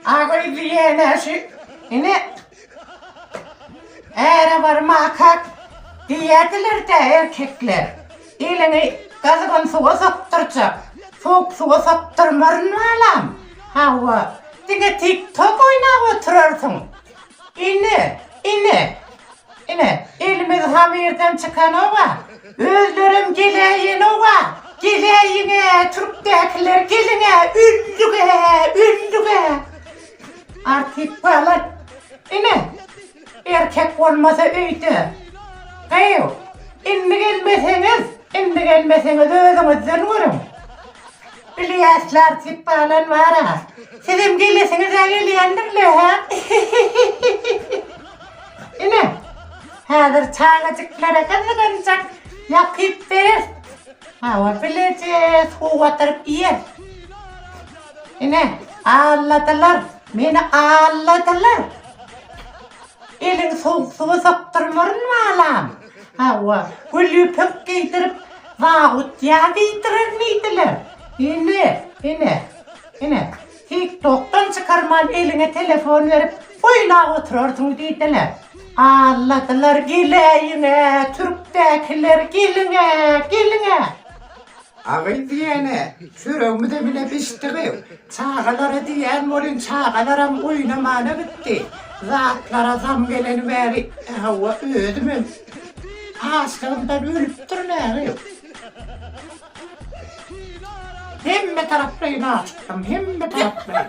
Agyýyly ýenesi ine äre bar makak diýýärdiler-dä erkekler. Eliňi gyzgyn suwa sokdurjak. Sowuk suwa sokdurmaryn balam. Hawa, diňe tik-tok oýnap oturarsyň. Ine, ine, ine, elimiz hamyrdan çykanoga, özlerem geläýenoga, geläýiň-ä, türkdäkiler, geliň-ä, öldük-ä, öldük-ä! Artyk balat, ine, erkek bolmasa öýde, gyýw, indi gelmeseňiz, indi gelmeseňiz, özüňizden görüň! Iliýaslar diyip baglan bara. Sizem gelesiňizä gelýändirle hä? Ine, häzir çagajyklara gyzgynjak ýapyp berer. Hawa, bileje suw batyryp iýer. Ine, alladylar, meni alladylar. Eliňi sowuk suwa sokdurmaryn balam. Hawa, güli pökk geýdirip, zabut ýa diýdirenmidiler? Ine, ine, ine, TikTokdan çykarman eliňe telefon berip, oýlap oturarsyň diýdiler. Alladylar geläýiň-ä, türkdäkiler, geliň-ä, geliň-ä! Agyz diýene, çöregimize bile bişdigiň. Çagalara diýýän welin, çagalaram oýnamana gitdi. Zatlara zam geleni bäri, hawa, özümem açlygymdan ölüpdirin äri. Hemme taraplaýyn açykdym, hemme taraplaýyn.